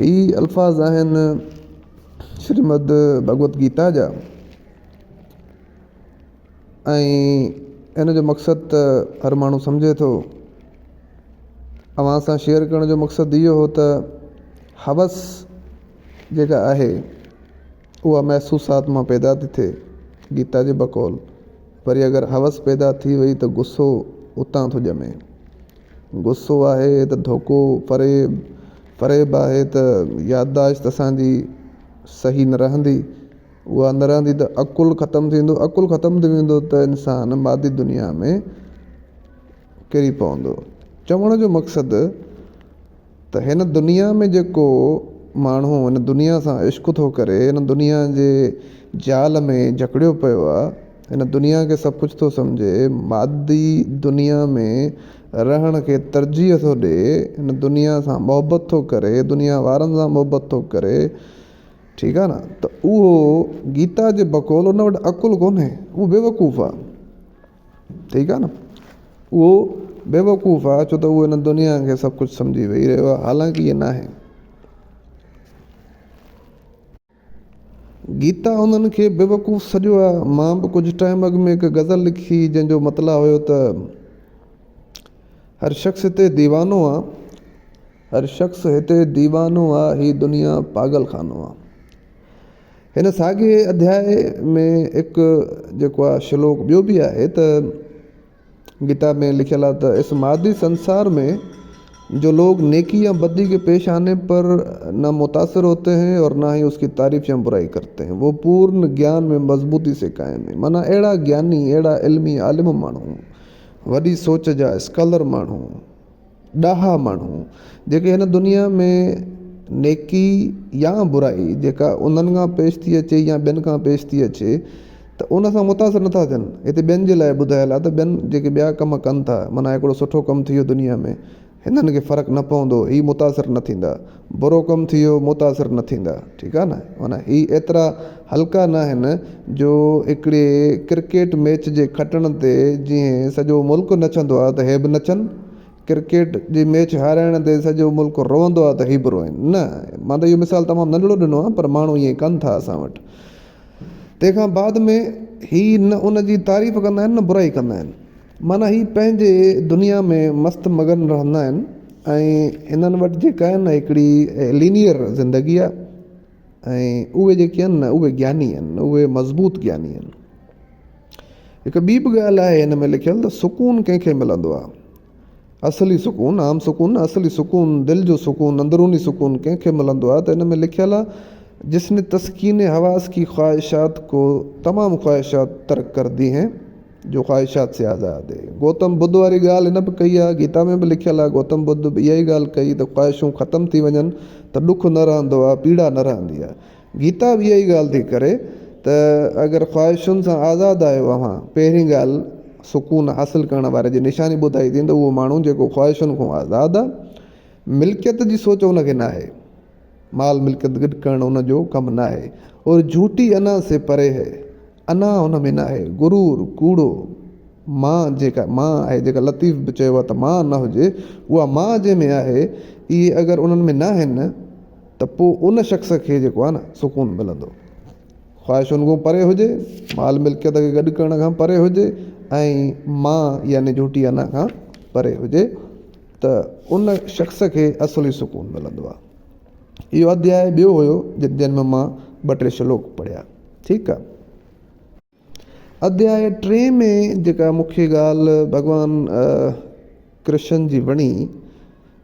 هي الفاظ آهن شريمد ڀڳوت گيتا جا ۽ هن جو مقصد ته هر ماڻهو سمجهي ٿو اوهان سان شيئر ڪرڻ جو مقصد اهو هو ته حوس جيڪا آهي اها محسوسات مان پيدا ٿي ٿئي گيتا جي بقول وري اگر حوس پيدا ٿي وئي ته غصو اتان ٿو ڄمي غصو آهي ته ڌوڪو، فريب، فريب آهي ته يادداشت اسان جي صحيح نه رهندي، اها نه رهندي ته عقل ختم ٿي ويندو، عقل ختم ٿي ويندو ته انسان مادي دنيا ۾ ڪري پوندو. چوڻ جو مقصد. ته هن دنيا ۾ جيڪو ماڻهو هن دنيا سان عشق ٿو ڪري، هن دنيا جي جال ۾ جڪڙيو پيو آ، هن دنيا کي سڀ ڪجهه ٿو سمجهي، مادي دنيا ۾ رهڻ کي ترجيح ٿو ڏي، هن دنيا سان محبت ٿو ڪري، دنيا وارن سان محبت ٿو ڪري، ٺيڪ آ نه، ته اهو گيتا جي بقول ان وٽ عقل ڪونهي، اهو بيوقوف آ. ٺيڪ آ نه اهو بيوقوف آ ڇو ته اهو هن دنيا کي سڀ ڪجهه سمجهي ويهي رهيو آ حالانڪه ائين ناهي گيتا انهن کي بيوقوف سڏيو آ مان به ڪجهه ٽائيم اڳ ۾ هڪ غزل لکي جنهن جو مطلع هيو ته هر شخص هتي ديوانو آ هر شخص هتي ديوانو آ هي دنيا پاڳل خانو آ هن ساڳئي اڌياء ۾ هڪ جيڪو آهي شلوڪ ٻيو به آهي ته گيتا ۾ لکيل آهي ته اس مادي سنسار مين جو لوگ نيڪي يا بدي ڪي پيش آني پر نه متاثر هوتي هين اور نه هي اس ڪي تعريف يا برائي ڪرتي هين وو پورن گيان ۾ مضبوطي سي قائم هين معنيٰ اهڙا گياني اهڙا علمي عالم ماڻهو وڏي سوچ جا اسڪالر ماڻهو ڏاها ماڻهو جيڪي هن دنيا ۾ نيڪي يا برائي جيڪا انهن کان پيش ٿي اچي يا ٻين کان پيش ٿي اچي ته ان سان متاثر نٿا ٿين هتي ٻين جي لاء ٻڌايل آهي ته ٻين جيڪي ٻيا ڪم ڪن ٿا معنيٰ هڪڙو سٺو ڪم ٿي ويو دنيا ۾ هنن کي فرق نه پوندو هي متاثر نه ٿيندا برو ڪم ٿي ويو متاثر نه ٿيندا ٺيڪ آ نه معنيٰ هي ايترا هلڪا نه آهن جو هڪڙي ڪرڪيٽ ميچ جي کٽڻ تي جيئن سڄو ملڪ نچندو آ ته هي به نچن ڪرڪيٽ جي ميچ هارائڻ تي سڄو ملڪ روئندو آ ته هي به روئن نه مان ته اهو مثال تمام ننڍڙو ڏنو آ پر ماڻهو ائين ڪن ٿا اسان وٽ تنهن کان بعد ۾ هي نه ان جي تعريف ڪندا آهن نه برائي ڪندا آهن معنيٰ هي پنهنجي دنيا ۾ مست مگن رهندا آهن ۽ انهن وٽ جيڪا آهي نه هڪڙي لينيئر زندگي آهي ۽ اهي جيڪي آهن نه اهي گياني آهن اهي مضبوط گياني آهن. هڪ ٻي به ڳالهه آهي هن ۾ لکيل ته سڪون ڪنهن کي ملندو آهي؟ اصلي سڪون، عام سڪون نه اصلي سڪون، دل جو سڪون، اندروني سڪون ڪنهن کي ملندو آهي ته هن ۾ لکيل آهي جس ني تسڪين حواس ڪي خواهشات ڪو تمام خواهشات ترڪ ڪر دي هين. جو خواهشات سي آزاد. گوتم ٻڌ واري ڳالهه هن به ڪئي آهي. گيتا ۾ به لکيل آهي. گوتم ٻڌ به اها ئي ڳالهه ڪئي ته خواهشون ختم ٿي وڃن ته ڏک نه رهندو آهي، پيڙا نه رهندي آهي. گيتا به اها ئي ڳالهه ٿي ڪري ته اگر خواهشن سان آزاد آهيو اوهان، پهرين ڳالهه سڪون حاصل ڪرڻ واري جي نشاني ٻڌائي ٿي ته اهو ماڻهو جيڪو خواهشن کان آزاد آهي، ملڪيت جي سوچ ان کي ناهي، مال ملڪيت گڏ ڪرڻ ان جو ڪم ناهي، اور جھوٽي انا سي پري هي. انا ان ۾ ناهي غرور، ڪوڙو. مان جيڪا مان آهي، جيڪا لطيف به چيو آهي ته مان نه هجي، اها مان جنهن ۾ آهي، اهي اگر انهن ۾ ناهن ته پوء ان شخص کي جيڪو آهي نه سڪون ملندو. خواهشن کان پري هجي، مال ملڪيت کي گڏ ڪرڻ کان پري هجي ۽ مان يعني جهوٽي انا کان پري هجي ته ان شخص کي اصلي سڪون ملندو آهي. اهو اڌياء ٻيو هيو جن ۾ مان ٻه ٽي شلوڪ پڙهيا ٺيڪ آ اڌياء ٽي ۾ جيڪا مون کي ڳالهه ڀڳوان ڪرشن جي وڻي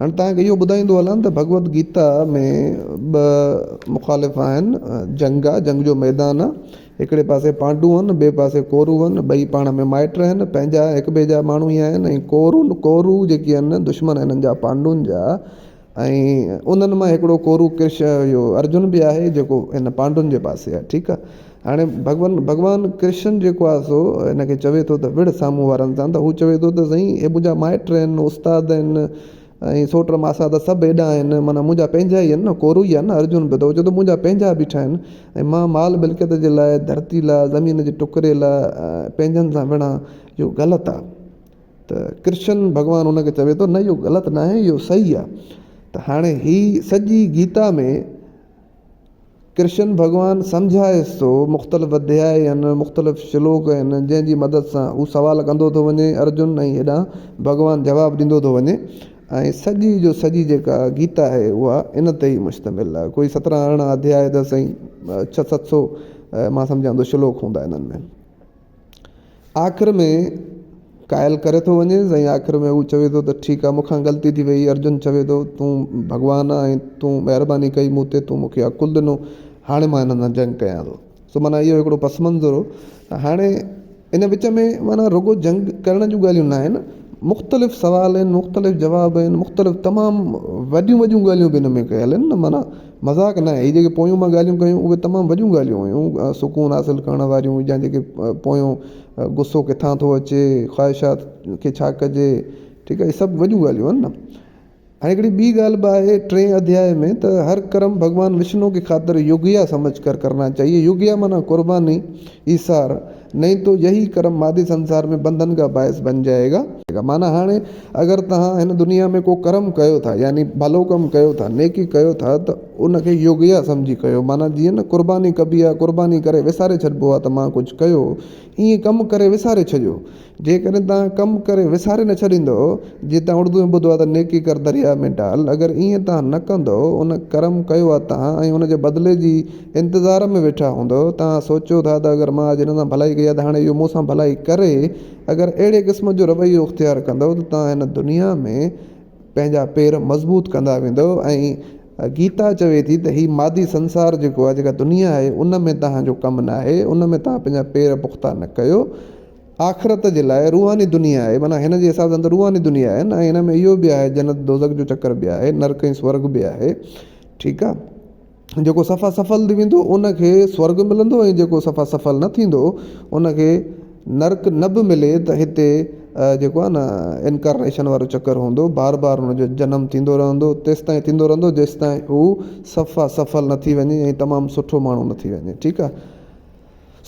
هاڻي تهان کي اهو ٻڌائيندو هلان ته ڀڳوت گيتا ۾ ٻه مخالف آهن جنگ آ جنگ جو ميدان آ هڪڙي پاسي پانڊو آهن ٻئي پاسي ڪورو آهن ٻئي پاڻ ۾ مائٽ آهن پنهنجا هڪ ٻئي جا ماڻهو ئي آهن ڪورو ڪورو جيڪي آهن دشمن آهن هنن جا پانڊون جا ۽ انهن مان هڪڙو ڪورو ڪرش اهو ارجن به آهي جيڪو هن پانڊون جي پاسي آهي ٺيڪ آهي هاڻي ڀڳوان ڀڳوان ڪرشن جيڪو آهي سو هن کي چوي ٿو ته وڙهه سامهون وارن سان ته هو چوي ٿو ته سائين هي منهنجا مائٽ آهن استاد آهن ۽ سوٽ ماسا ته سڀ هيڏانهن آهن معنيٰ منهنجا پنهنجا ئي آهن ڪورو ئي آهي نه ارجن به ته هو چوي ٿو منهنجا پنهنجا بيٺا آهن ۽ مان مال ملڪيت جي لاء ڌرتي لاء زمين جي ٽڪري لاء پنهنجن سان وڙهان اهو غلط آهي ته ڪرشن ڀڳوان هن کي چوي ٿو نه اهو غلط نه آهي اهو صحيح آهي ته هاڻي هي سڄي گيتا ۾ ڪرشن ڀڳوان سمجهائيس ٿو مختلف اڌيا آهن مختلف شلوڪ آهن جنهن جي مدد سان هو سوال ڪندو ٿو وڃي ارجن ۽ هيڏانهن ڀڳوان جواب ڏيندو ٿو وڃي ۽ سڄي جو سڄي جيڪا گيتا آهي اها ان تي ئي مشتمل آهي ڪوئي سترهن ارڙهن اڌيا ته سائين ڇهه ست سو مان سمجهان ٿو شلوڪ هوندا انهن ۾ آخر ۾ قائل ڪري ٿو وڃيس ۽ آخر ۾ هو چوي ٿو ته ٺيڪ آهي مون کان غلطي ٿي وئي ارجن چوي ٿو تون ڀڳوان آهين ۽ تون مهرباني ڪئي مون تي تون مونکي عقل ڏنو هاڻي مان هنن سان جنگ ڪيان ٿو سو معنيٰ اهو هڪڙو پس منظر هو ته هاڻي ان وچ ۾ معنيٰ رڳو جنگ ڪرڻ جون ڳالهيون نه آهن مختلف سوال آهن مختلف جواب آهن مختلف تمام وڏيون وڏيون ڳالهيون به ان ۾ ڪيل آهن معنيٰ مذاق ناهي، هي جيڪي پويون مان ڳالهيون ڪيون، اهي تمام وڏيون ڳالهيون هيون، سڪون حاصل ڪرڻ واريون يا جيڪي پويون غصو ڪٿان ٿو اچي، خواهشات کي ڇا ڪجي، ٺيڪ آهي، هي سڀ وڏيون ڳالهيون آهن نه. هاڻي هڪڙي ٻي ڳالهه به آهي ٽئين اڌياء ۾ ته هر ڪرم ڀڳوان وشنو ڪي خاطر يوگيا سمجھ ڪر ڪرنا چاهيي، يوگيا معنيٰ قرباني، ايثار. نهين تو يهي ڪرم مادي سنسار ۾ بنڌن ڪا باعث بن جائي گا. معنيٰ، هاڻي اگر توهان هن دنيا ۾ ڪو ڪرم ڪيو ٿا، يعني ڀلو ڪم ڪيو ٿا، نيڪي ڪيو ٿا ته ان کي يوگيا سمجهي ڪيو، معنيٰ جيئن نه قرباني ڪبي آهي، قرباني ڪري وساري ڇڏبو آهي ته مان ڪجهه ڪيو، ايئن ڪم ڪري وساري ڇڏيو. جيڪڏهن توهان ڪم ڪري وساري نه ڇڏيندؤ، جي توهان اردو ۾ ٻڌو آهي ته نيڪي ڪر درياء ۾ ڊال، اگر ايئن توهان نه ڪندؤ، ان ڪرم ڪيو آهي توهان ۽ ان جي بدلي جي انتظار ۾ ويٺا هوندؤ. توهان سوچيو ٿا ته اگر مان اڄ هن سان ڀلائي ڪئي آهي ته هاڻي اهو مون سان ڀلائي ڪري. اگر اهڙي قسم جو رويو اختيار ڪندؤ ته توهان هن دنيا ۾ پنهنجا پير مضبوط ڪندا ويندؤ ۽ گيتا چوي ٿي ته هي مادي سنسار جيڪو آهي، جيڪا دنيا آهي، ان ۾ توهان جو ڪم ناهي، ان ۾ توهان پنهنجا پير پختا نه ڪيو. آخرت جي لاء روحاني دنيا آهي، معنيٰ هن جي حساب سان ته روحاني دنيا آهي نه ۽ ان ۾ اهو به آهي جنت دوزخ جو چڪر به آهي، نرڪ ۽ سورڳ به آهي. ٺيڪ آهي. جيڪو سفا سفل ٿي ويندو ان کي سورڳ ملندو ۽ جيڪو سفا سفل نه ٿيندو ان کي نرڪ نه به ملي ته هتي جيڪو آهي نه انڪارنيشن وارو چڪر هوندو بار بار ان جو جنم ٿيندو رهندو تيستائين ٿيندو رهندو جيستائين هو سفا سفل نه ٿي وڃي ۽ تمام سٺو ماڻهو نه ٿي وڃي ٺيڪ آهي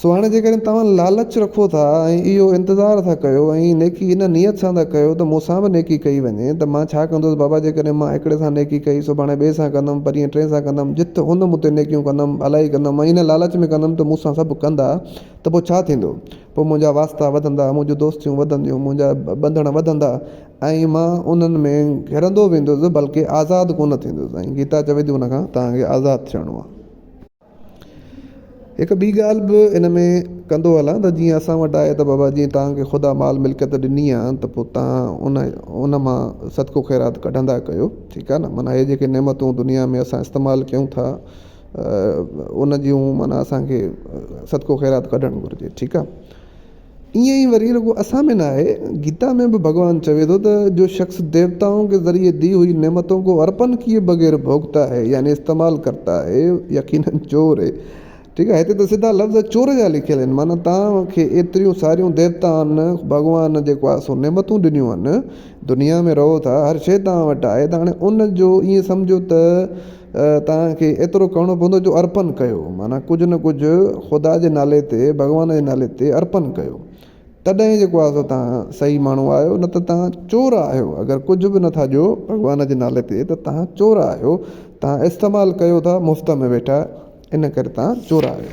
سو هاڻي جيڪڏهن توهان لالچ رکو ٿا ۽ اهو انتظار ٿا ڪيو ۽ نيڪي ان نيت سان ٿا ڪيو ته مون سان به نيڪي ڪئي وڃي ته مان ڇا ڪندس بابا جيڪڏهن مان هڪڙي سان نيڪي ڪئي سڀاڻي ٻئي سان ڪندم پرينء ٽئين سان ڪندم جت ان مون تي نيڪيون ڪندم الائي ڪندم ۽ ان لالچ ۾ ڪندم ته مون سان سڀ ڪندا ته پوء ڇا ٿيندو پوء منهنجا واسطا وڌندا منهنجون دوستيون وڌنديون منهنجا ٻنڌڻ وڌندا ۽ مان انهن ۾ گهرندو ويندس بلڪه آزاد ڪونه ٿيندس ۽ گيتا چوي ٿي ان کان توهان کي آزاد ٿيڻو آهي. هڪ ٻي ڳالهه به ان ۾ ڪندو هلان ته جيئن اسان وٽ آهي ته بابا جي توهان کي خدا مال ملڪيت ڏني آهي ته پوء توهان ان ان مان صدقو خيرات ڪڍندا ڪيو ٺيڪ آهي نه معنيٰ هي جيڪي نعمتون دنيا ۾ اسان استعمال ڪيون ٿا ان جون معنيٰ اسان کي صدقو خيرات ڪڍڻ گهرجي ٺيڪ آهي ائين ئي وري رڳو اسان ۾ نه آهي، گيتا ۾ به ڀڳوان چوي ٿو ته، جو شخص ديوتائون ڪي ذريعي دي هئي نعمتون ڪو ارپن ڪيئي بغير ڀوڳتا هي يعني استعمال ڪرتا هي يقيناً چور هي. ٺيڪ آهي، هتي ته سڌا لفظ چور جا لکيل آهن، معنيٰ توهان کي ايتريون ساريون ديوتائن، ڀڳوان جيڪو آهي سو نعمتون ڏنيون آهن، دنيا ۾ رهو ٿا، هر شيء توهان وٽ آهي ته هاڻي ان جو ائين سمجهو ته توهان کي ايترو ڪرڻو پوندو جو ارپن ڪيو، معنيٰ ڪجهه نه ڪجهه خدا جي نالي تي، ڀڳوان جي نالي تي ارپن ڪيو. تڏهن ئي جيڪو آهي سو توهان صحيح ماڻهو آهيو، نه ته توهان چور آهيو. اگر ڪجهه به نٿا ڏيو ڀڳوان جي نالي تي ته توهان چور آهيو. توهان استعمال ڪيو ٿا مفت ۾ ويٺا ان ڪري توهان چور آهيو.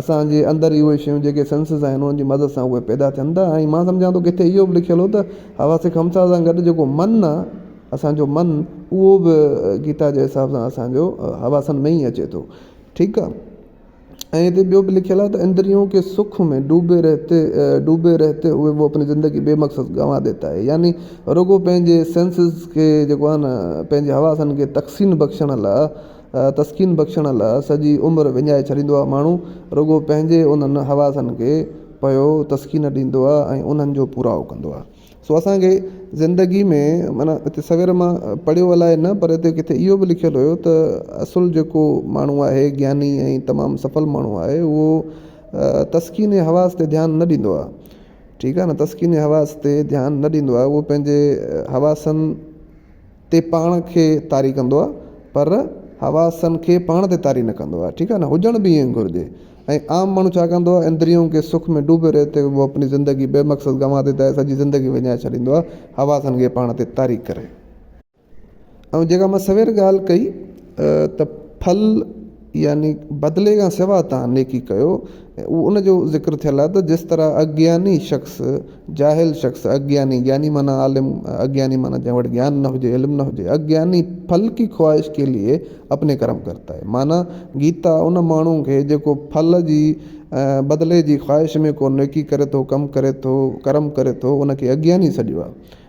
اسان جي اندر ئي اهي شيون جيڪي سينسز آهن انهن جي مدد سان اهي پيدا ٿين ٿا ۽ مان سمجهان ٿو ڪٿي اهو به لکيل هو ته حواس خمسه سان گڏ جيڪو من آهي اسان جو من اهو به گيتا جي حساب سان اسان جو حواسن ۾ ئي اچي ٿو ٺيڪ آهي ۽ هتي ٻيو به لکيل آهي ته اندريون ڪي سک ۾ ڊوبي رهتي ڊوبي رهتي هوئي وو اپني زندگي بي مقصد گنوا ديتا هي يعني رڳو پنهنجي سينسز کي جيڪو آهي نه پنهنجي حواسن کي تقسيم بخشڻ لاء تسڪين بخشڻ لا سڄي عمر وڃائي ڇڏيندو آ. ماڻهو رڳو پنهنجي انهن حواسن کي پيو تسڪين ڏيندو آ ۽ انهن جو پورائو ڪندو آ. سو اسان کي زندگي ۾ معنيٰ هتي سوير مان پڙهيو الائي نه پر هتي ڪٿي اهو به لکيل هيو ته اصل جيڪو ماڻهو آهي گياني ۽ تمام سڦل ماڻهو آهي اهو تسڪين حواس تي ڌيان نه ڏيندو آ. ٺيڪ آ نه تسڪين حواس تي ڌيان نه ڏيندو آ اهو پنهنجي حواسن تي پاڻ کي طاري ڪندو آهي پر حواسن کي پاڻ تي طاري نه ڪندو آهي ٺيڪ آهي نه هجڻ به ائين گهرجي ۽ عام ماڻهو ڇا ڪندو آهي اندريون ڪي سک ۾ ڊوبي رهتي هو اپني زندگي بي مقصد گنوا ديتا هي سڄي زندگي وڃائي ڇڏيندو آهي حواسن کي پاڻ تي طاري ڪري ۽ جيڪا مان سوير ڳالهه ڪئي ته ڦل يعني بدلي کان سواء توهان نيڪي ڪيو ۽ ان جو ذڪر ٿيل آهي ته جس طرح اگياني شخص، جاهل شخص، اگياني، گياني معنيٰ عالم، اگياني معنيٰ جنهن وٽ گيان نه هجي، علم نه هجي، اگياني ڦل ڪي خواهش ڪي ليي اپني ڪرم ڪرتا هي معنيٰ گيتا ان ماڻهو کي جيڪو ڦل جي ۽ بدلي جي خواهش ۾ ڪو نيڪي ڪري ٿو، ڪم ڪري ٿو، ڪرم ڪري ٿو، ان کي اگياني سڏيو آهي.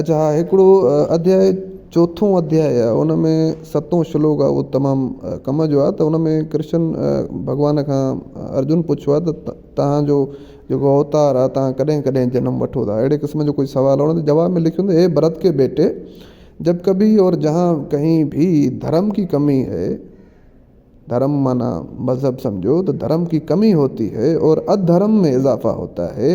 اچ ها هڪڙو اڌياء چوٿون اڌياء ان ۾ ستون شلوڪ آهي اهو تمام ڪم جو آهي ته ان ۾ ڪرشن ڀڳوان کان ارجن پڇيو آهي ته توهان جو جيڪو اوتار آهي توهان ڪڏهن ڪڏهن جنم وٺو ٿا اهڙي قسم جو ڪجهه سوال هو جواب ۾ لکيو هي ڀرت ڪي بيٽي جب ڪبهي اور جهان ڪهين ڀي ڌرم ڪي ڪمي هي ڌرم معنيٰ مذهب سمجهو ته ڌرم ڪي ڪمي هوتي هي اور اڌرم ۾ اضافا هوتا هي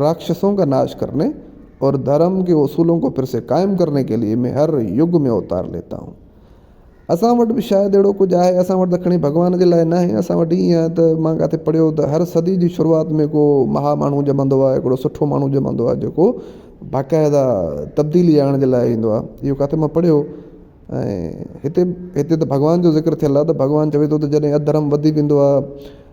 راڪشسون ڪا ناش ڪرني اور ڌرم ڪي اصولون ڪو ڦر سي قائم ڪرني ڪي ليي مين ھر يگ ۾ اوتار ليتا ھون. اسان وٽ به شايد اھڙو ڪجھ آھي، اسان وٽ ته کڻي ڀڳوان جي لاء ناھي، اسان وٽ ائين آھي ته مان ڪاٿي پڙھيو ھو ته ھر صدي جي شروعات ۾ ڪو مھا ماڻھو ڄمندو آھي، ھڪڙو سٺو ماڻھو ڄمندو آھي جيڪو باقاعده تبديلي آڻڻ جي لاء ايندو آھي، اھو ڪاٿي مان پڙھيو ھو ۽ ھتي ھتي ته ڀڳوان جو ذڪر ٿيل آھي ته ڀڳوان چوي ٿو ته جڏھن اڌرم وڌي ويندو آھي.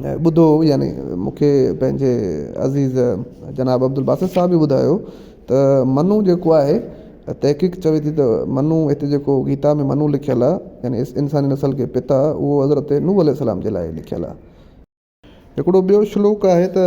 ۽ ٻڌو يعني مون کي پنهنجي عزيز جناب عبدالباسط صاحب به ٻڌايو ته منو جيڪو آهي تحقيق چوي ٿي ته منو هتي جيڪو گيتا ۾ منو لکيل آهي يعني اس انساني نسل ڪي پتا اهو حضرت نوح عليه السلام جي لاء لکيل آهي هڪڙو ٻيو شلوڪ آهي ته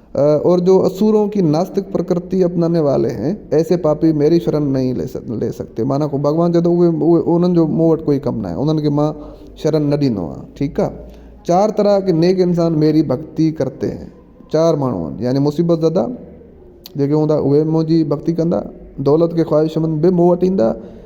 اور جو اسورون ڪي ناستڪ پرڪرتي اپنانے والي هين، ايسي پاپي ميري شرن نهين لي سگتي. معنيٰ ڪو ڀڳوان چئي ٿو اهي انهن جو مون وٽ ڪوئي ڪم ناهي، انهن کي مان شرن نه ڏيندو آهيان. ٺيڪ آ. چار طرح ڪي نيڪ انسان ميري ڀڳتي ڪرتي هين. چار ماڻهو آهن، يعني مصيبت زده جيڪي هوندا اهي منهنجي ڀڳتي ڪندا، دولت ڪي خواهشمند به مون وٽ ايندا،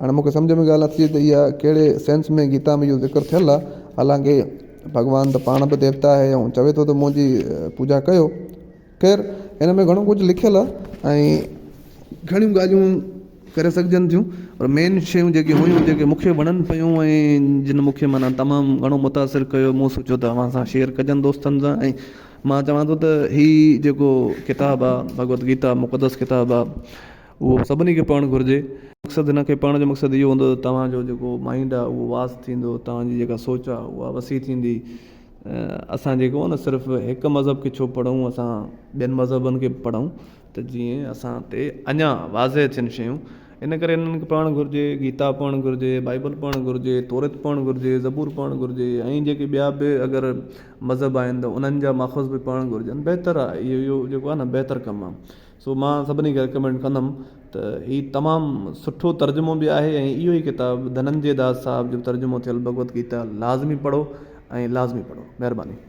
هاڻي مون کي سمجهه ۾ ڳالهه نٿي اچي ته اها ڪهڙي سينس ۾ گيتا ۾ اهو ذڪر ٿيل آهي. حالانڪه ڀڳوان ته پاڻ به ديوتا آهي ۽ چوي ٿو ته منهنجي پوڄا ڪيو. خير هن ۾ گهڻو ڪجهه لکيل آهي ۽ گهڻيون ڳالهيون ڪري سگهجن ٿيون پر مين شيون جيڪي هيون جيڪي مون کي وڻن پيون ۽ جن مون کي معنيٰ تمام گهڻو متاثر ڪيو مون سوچيو ته اوهان سان شيئر ڪجن دوستن سان ۽ مان چوان ٿو ته هي جيڪو ڪتاب آهي ڀڳوت گيتا مقدس ڪتاب آهي اهو سڀني کي پڙهڻ گهرجي. مقصد هن کي پڙهڻ جو مقصد اهو هوندو ته توهان جو جيڪو مائينڊ آهي اهو واس ٿيندو توهان جي جيڪا سوچ آهي اها وسيع ٿيندي اسان جيڪو آهي نه صرف هڪ مذهب کي ڇو پڙهون اسان ٻين مذهبن کي به پڙهون ته جيئن اسان تي اڃا واضح ٿين شيون ان ڪري انهن کي پڙهڻ گهرجي گيتا پڙهڻ گهرجي بائبل پڙهڻ گهرجي توريت پڙهڻ گهرجي زبور پڙهڻ گهرجي ۽ جيڪي ٻيا به اگر مذهب آهن ته انهن جا ماخذ به پڙهڻ گهرجن بهتر آهي اهو جيڪو آهي نه بهتر ڪم آهي سو مان سڀني کي رڪمينڊ ڪندم ته هي تمام سٺو ترجمو به آهي ۽ اهو ئي ڪتاب ڌننجي داس صاحب جو ترجمو ٿيل ڀڳوت گيتا لازمي پڙهو ۽ لازمي پڙهو. مهرباني.